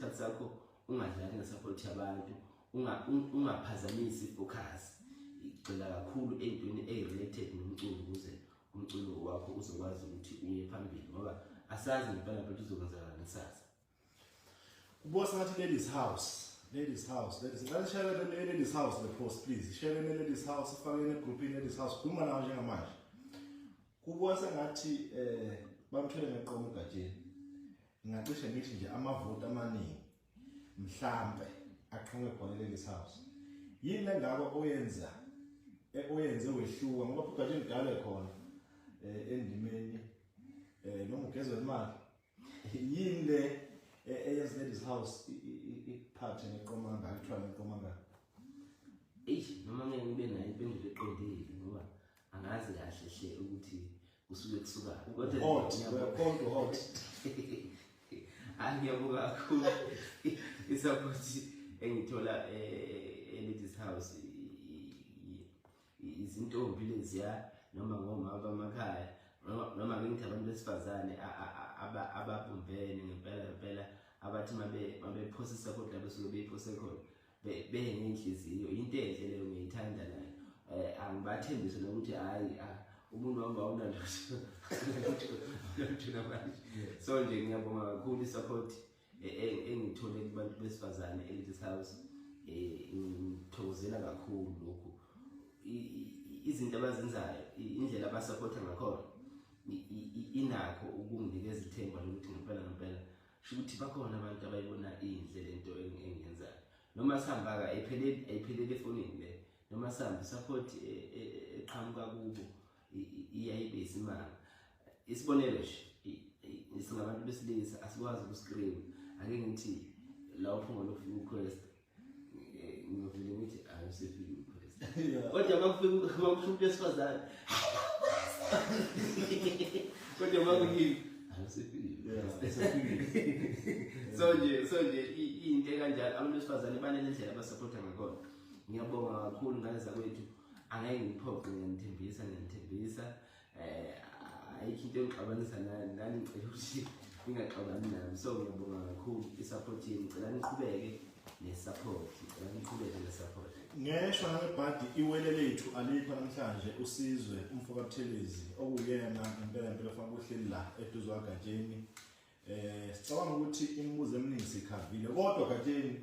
isikhathi sakho ungadlali ngesapothi yabantu ungaphazamisi ifocus igxila kakhulu ey'ntweni eyi-related nomculo ukuze umculo wakho uzokwazi ukuthi uye phambili ngoba asazi ngempela phela uzokwenzakala ngesasa kubuka sengathi ladies house ladies house ladies ngicela share le ladies house le post please share le ladies house ifake ne group in ladies house khuluma nawo njengamanje kubuka sengathi eh bamthwele ngeqomo egatsheni Ngingacishe ngithi nje amavoti amaningi mhlambe aqhamuke khona leli house. Yini lengako oyenza eh, oyenze wehluka ngoba futhi kanje ngidale khona eh, endimeni eh noma ugezwe imali. Yini le eh, eyenza ladies house iphathe neqomanga akuthiwa neqomanga. Eish noma ngeke ngibe nayo impendulo eqondile ngoba angazi kahle hle ukuthi usuke kusuka kodwa hot kodwa hot angiyabuka kakhulu isupport engithola eh, e-ladies house izintombi leziya noma ngomama bamakhaya noma ngithi abantu besifazane ababumbene ngempela ngempela abathi mabephosisa kodwa besuke beyiphose khona benenhliziyo into enhle leyo ngiyithanda nayo eh angibathembise nokuthi hayi ah, umuntu wami awunalutho namanje so nje ngiyabonga kakhulu i-support e, e, engithole kubantu besifazane e-ladies house um ngithokozela kakhulu lokhu izinto abazenzayo indlela abasaphotha ngakhona inakho ukunginikeza ithemba lokuthi ngempela ngempela shukuthi bakhona abantu abayibona inhle lento engiyenzayo noma sihamba ka iphelele iphelele efonini le noma sihamba support e, e, e, eqhamuka kubo iyayibe isimanga isibonelo nje singabantu besilisa asikwazi ukuscream ake ngithi la uphunga lokufika uquest ngiyovele ngithi ayosefile umphristi kodwa makufika makusho umuntu wesifazane kodwa makuyini so nje so nje into kanjalo abantu besifazane banele ndlela abasupporta ngakhona ngiyabonga kakhulu ngane zakwethu angeke ngiphoqe ngiyanithembisa ngiyanithembisa eh ayikho into engixabanisa nani nani ngicela ukuthi ningaxabani nami so ngiyabonga kakhulu i-support yenu ngicela niqhubeke ne-support ngicela niqhubeke ne-support ngeshwa nangebhadi iwele lethu alikho namhlanje usizwe umfokabuthelezi okuyena ngempela mpela funa kuhleli la eduze wagatsheni eh sicabanga ukuthi imibuzo eminingi sikhavile kodwa gatsheni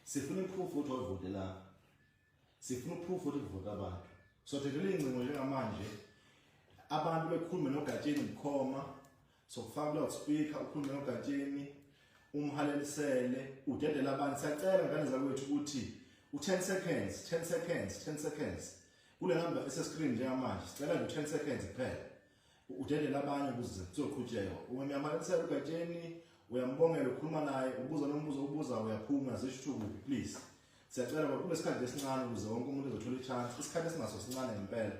sifuna iproof ukuthi wavotela sifuna uproof ukuthi kuvota abantu so thethela iy'ngcingo njengamanje abantu bekhulume nogatsheni bukhoma sokufaka kuloud speaker ukhulume nogatsheni umhalelisele udedele abantu siyacela ngane zakwethu ukuthi u-10 seconds 10 seconds 10 seconds kule number esescreen njengamanje sicela nje u-10 seconds kuphela udedele abanye ukuze kuzoqhutsheka uma uyamalisela ugatsheni uyambongela ukhuluma naye ubuza nombuzo ubuza uyaphuma zisho ukuthi ukuphi please siyacela ngoba kunesikhathi esincane ukuze wonke umuntu ezothola ichance isikhathi esinaso sincane ngempela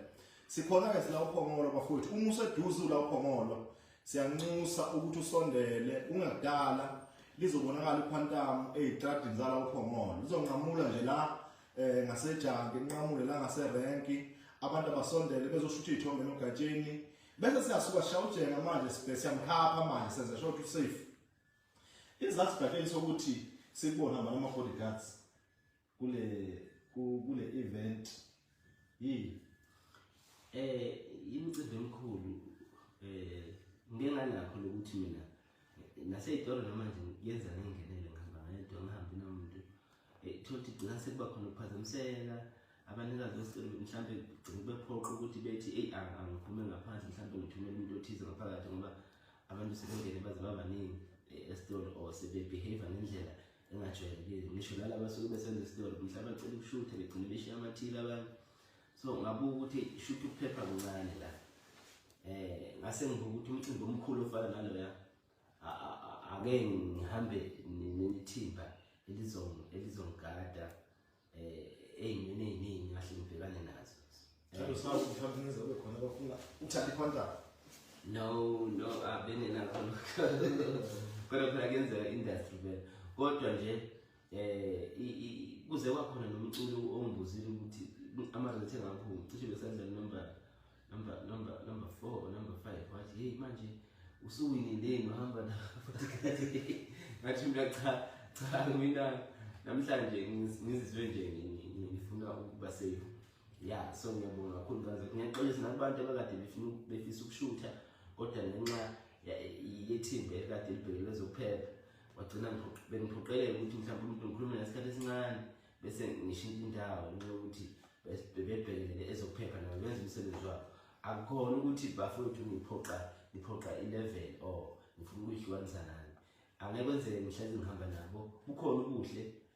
sikhona-ke sila uphongolo bafowethu uma useduze ula uphongolo siyanxusa ukuthi usondele ungakudala lizobonakala ikhwantamu eyitradini zala uphongolo lizonqamula nje la eh ngasejange inqamule la ngaserenki abantu abasondele bezoshutha izithombe nogatsheni bese siyasuka shawujena manje sibhese siyamkhapha manje senze short safe izathu gatsheni sokuthi sikubona manje ama bodyguards kule kule event yini eh imicimbi emikhulu eh ngeke ngalakho lokuthi mina naseyitolo namanje yenza ngengenele ngihamba ngedwa ngihambi nomuntu eh, thothi gcina sekuba khona ukuphazamiseka abanikazi besicelo mhlawumbe gcina bephoqa ukuthi bethi eyi angiphume ngaphandle mhlawumbe ngithumele umuntu othize ngaphakathi ngoba abantu sebengene baze babaningi eh, esitolo or sebebehave ngendlela engajwayelekile ngisho nalaba suke besenza esitolo mhlawumbe acela ukushutha begcine beshiya amathile abantu so ngabuka ukuthi shuthi ukuphepha kuncane la eh ngase ngibuka ukuthi umcimbi omkhulu ofana naloya ake ngihambe nethimba elizong elizongigada eh eyimene eyiningi ngahle ngibhekane nazo Njalo sawu mhlawumbe nize kube khona bafuna uthathe contract. No no abengenakho lokho. Kodwa phela kuyenzeka industry vele. Kodwa nje eh kuze kwakhona nomculo ongibuzile ukuthi amazwi ethe ngakho cishe besenza number number number number 4 or number 5 wathi hey manje usuwinindeni uhamba na ngathi mina cha cha mina namhlanje ngizizwe nje ngifuna ukuba safe ya so ngiyabonga kakhulu kaze ngiyaxolisa nakubantu abakade befuna befisa ukushutha kodwa ngenxa yethimba ekade libhekelwe zokuphepha wagcina bengiphoqeleka ukuthi mhlawumbe umuntu ngikhulume ngesikhathi esincane bese ngishintsha indawo ngenxa yokuthi bebebhekelele ezokuphepha nabo benza umsebenzi wabo akukhona ukuthi bafowethu ngiphoqa ngiphoqa i-level or ngifuna ukuyihlukanisa nani angeke kwenzeke ngihlezi ngihamba nabo kukhona ubuhle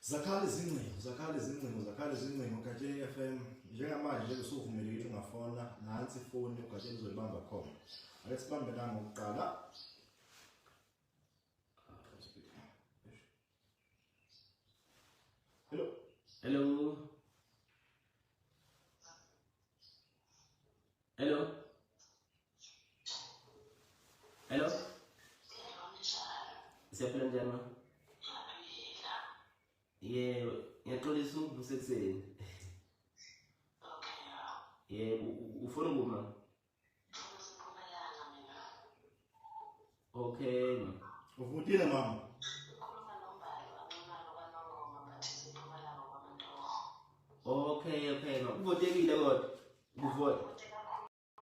Zakhala izingcingo, zakhala izingcingo, zakhala izingcingo Gatsheni FM. Njengamanje nje usuvumelekile ukuthi ungafona nansi ifoni uGatsheni uzoyibamba khona. Ake sibambe la ngokuqala. Hello. Hello. Hello. Hello. Siyaphila njani ma? Yebo, ngiyaxolisa ukuvusa ekuseni. Yebo, ufuna ukuma? Okay ma. Uvutile mama. Okay, okay ma. Uvotekile kodwa. Uvote.